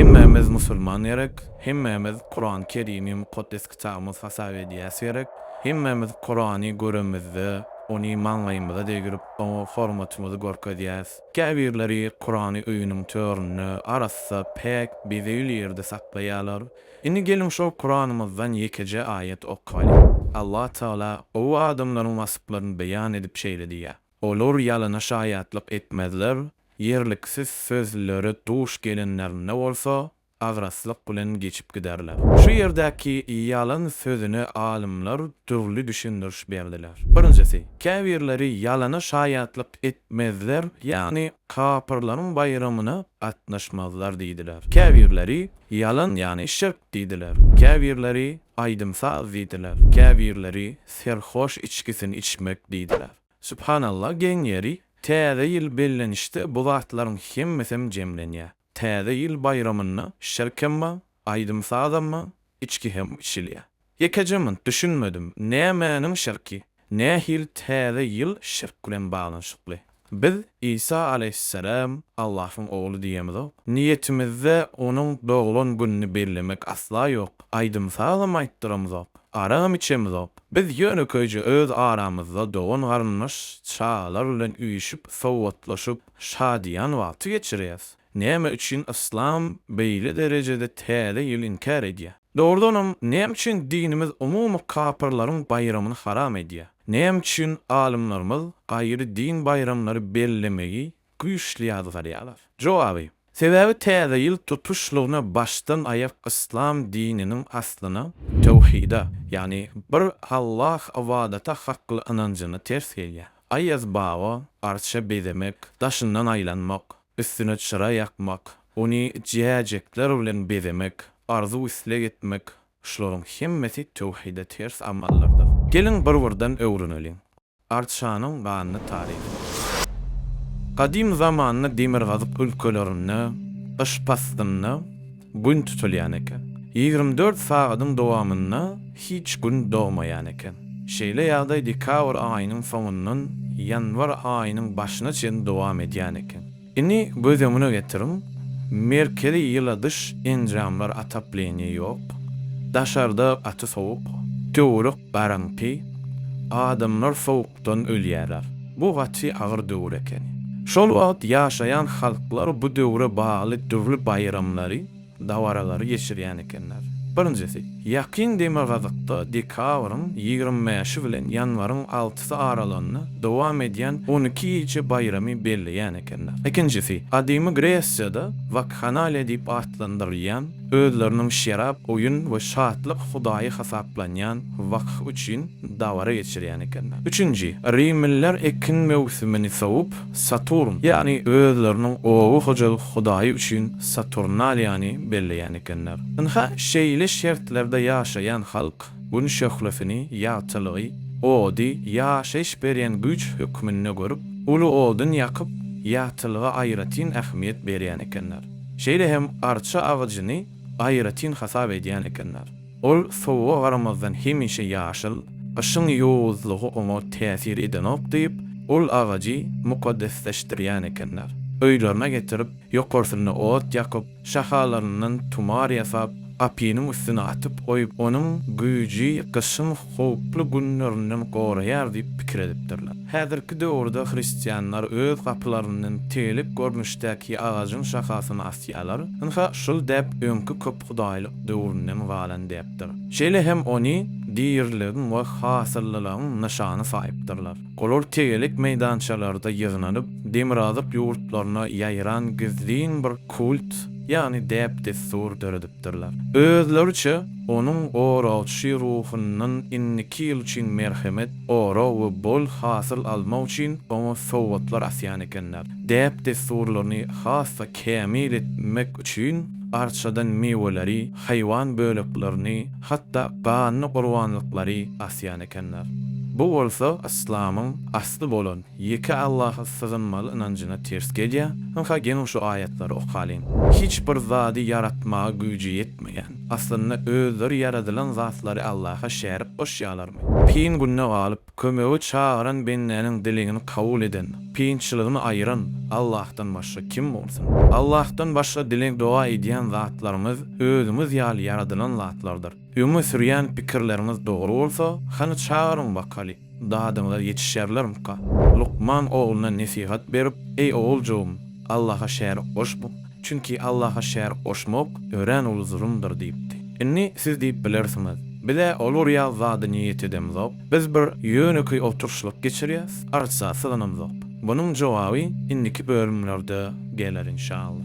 Hemmämiz musulman gerek, hemmämiz Kurany Kerimi mukaddes kitabymyz hasap edýäs gerek, hemmämiz Kurany göremizde ony maňlaýymyza degirip oňa hormatymyzy görkezýäs. Käbirleri Kurany öýüniň töründe arassa, päk, bezegli ýerde saklaýarlar. Indi geliň şol Kuranymyzdan ýekeje aýat okalyň. Allah Tagala gowy adamlaryň waspylaryny beýan edip şeýle diýýär. Olar ýalana şaýatlyk etmezler, ýerliksiz sözlere duş gelenlerinde bolsa, agraslyk bilen geçip giderler. Şu ýerdäki ýalan sözüne alymlar dürli düşündiriş berdiler. Birinjisi, käbirleri ýalana şaýatlyk etmezler, ýagny kapyrlaryň baýramyna gatnaşmazlar diýdiler. Käbirleri, Ýalan, ýagny şirk diýdiler. Käbirleri, Aýdym-saz diýdiler. Käbirleri, Serhoş içgisini içmek diýdiler. Subhanallah geň ýeri, täze ýyl bellenişde bu zatlaryň hemmesem jemlenýär. Täze ýyl baýramynda şirkem bar, aýdym-sazam bar, içki hem içilýär. Ýekeje munt düşünmedim, nämäniň şirki? Nähili täze ýyl şirk bilen baglanyşykly? Biz Isa aleýhisselam Allahyň ogly diýemizok. Niýetimizde onuň doglan gününi bellemek asla ýok. Aýdym-sazam aýtdyramyzok. Aram içemizok. Biz ýönekeýje öz aramyzda dogan-garyndaş, çagalar bilen üýşüp, sowgatlaşyp, şadyýan wagty geçirýäs. Näme üçin yslam beýle derejede Täze ýyly inkär edýär? Dogrudanam, näme üçin dinimiz umumy kapyrlaryň baýramyny haram edýär? Näme üçin alymlarymyz gaýry din baýramlary bellemegi güýçli ýazgarýarlar. Jogaby, Sebäbi täze ýyl tutuşlygyna başdan aýak yslam dininiň aslyna, töwhide, ýagny bir Allah ybadata hakly ynanjyna ters gelýär. Aýaz baba, Arça bezemek, daşyndan aýlanmak, üstüne çyra ýakmak, ony jäjekler bilen bezemek, arzuw-isleg etmek, şularyň hemmesi töwhide ters amallardyr. Geliň bir-birden öwreneliň. Arçanyň ganly taryhy. Gadym zamanda demirgazyk ülkelerinde gyş paslynda Gün tutulýan eken. Ýigrimi dört sagadyň dowamynda hiç Gün dogmaýan eken. Şeýle ýagdaý dekabr aýynyň soňundan ýanwar aýynyň başyna çenli dowam edýän eken. Indi göz öňüne getiriň, merkezi ýyla dyş enjamlar atapleniýe ýok, daşarda gaty sowuk, töwerek garaňky, adamlar sowukdan ölýärler. Bu gaty agyr döwür ekeni. Şol wagt ýaşaýan halklar bu döwre bagly dürli baýramlary, dabaralary geçirýän ekenler. Birinjisi, ýakyn demirgazykda dekabryň ýigrimi bäşi bilen ýanwaryň altysy aralygynda dowam edýän on iki gije baýramy belleýän ekenler. Ikinjisi, gadymy Gresiýada Wakhanaliýa diýip atlandyrylýan, özleriniň şerap, oýun we şatlyk hudaýy hasaplanýan Wakh üçin dabara geçirýän ekenler. Üçünji, rimliler ekin möwsümini sowup, Saturn, ýagny özleriniň oba hojalyk hudaýy üçin Saturnaliýany belleýän ekenler. Ynha, şeýle şertlerde ýaşaýan halk Gün şöhlesini, ýagtylygy, ody ýaşaýyş berýän güýç hökmünde görüp, uly odun ýakyp, ýagtylyga aýratyn ähmiýet berýän ekenler. Şeýle hem arça agajyny aýratyn hasap edýän ekenler. Ol sowuga garamazdan hemişe ýaşyl, gyşyň ýowuzlygy oňa täsir edenok diýip, ol agajy mukaddesleşdirýän ekenler. Öýlerine getirip, ýokarsynda ot ýakyp, şahalaryndan tumar ýasap, gapynyň üstüne atyp goýup, onuň güýji gyşyň howply günlerinden goraýar diýip pikir edipdirler. Häzirki döwürde hristianlar öz gapylaryndan tegelek görnüşdäki agajyň şahasyny asýarlar. Ynha, şul däp öňki köp. hudaýlyk döwründen galan däpdir. Şeýle hem ony diriligiň we hasyllylygyň nyşany saýypdyrlar. Olar tegelek meýdançalarda ýygnanyp, demirazyk ýurtlaryna ýaýran gizlin bir kult, ýagny däp-dessur döredipdirler. Özleriçe, onuň oragçy ruhundan indiki ýyl üçin merhemet, orag we bol hasyl almak üçin oňa sowgatlar asýan ekenler, däp-dessurlaryny has-da kämil etmek üçin arçadan miweleri, haýwan böleklerini, hatda ganly gurbanlyklary asýan ekenler. Bu bolsa yslamyň asly bolan ýeke Allaha sygynmaly ynanjyna ters gelýär. Ynha geliň şu aýatlary okalyň. Hiç bir zady ýaratmaga güýji ýetmeýän, aslynda özleri ýaradylan zatlary Allaha şärik goşýarlarmy? Kyn günde galyp, Kömege çagyran bendäniň dilegini kabul eden, kynçylygyny aýyran Allahdan başga kim bolsun? Allahdan başga dileg-doga edýän zatlaryňyz özüňiz ýaly ýaradylan zatlardyr. Öňe sürýän pikirleriňiz dogry bolsa, hany çagyryň bakaly, dadyňyza ýetişerlermika? Lukman ogluna nesihat berip, Eý oguljygym, Allaha şärik goşma. Çünki Allaha şärik goşmak örän uly zulumdyr diýipdi. Indi siz diýip bilersiňiz, Biz-ä ol urýan zada niýet edemzok, biz bir ýönekeý oturyşlyk geçirýäs, arça syganamzok. Munuň jogaby indiki bölümlerde geler inşallah.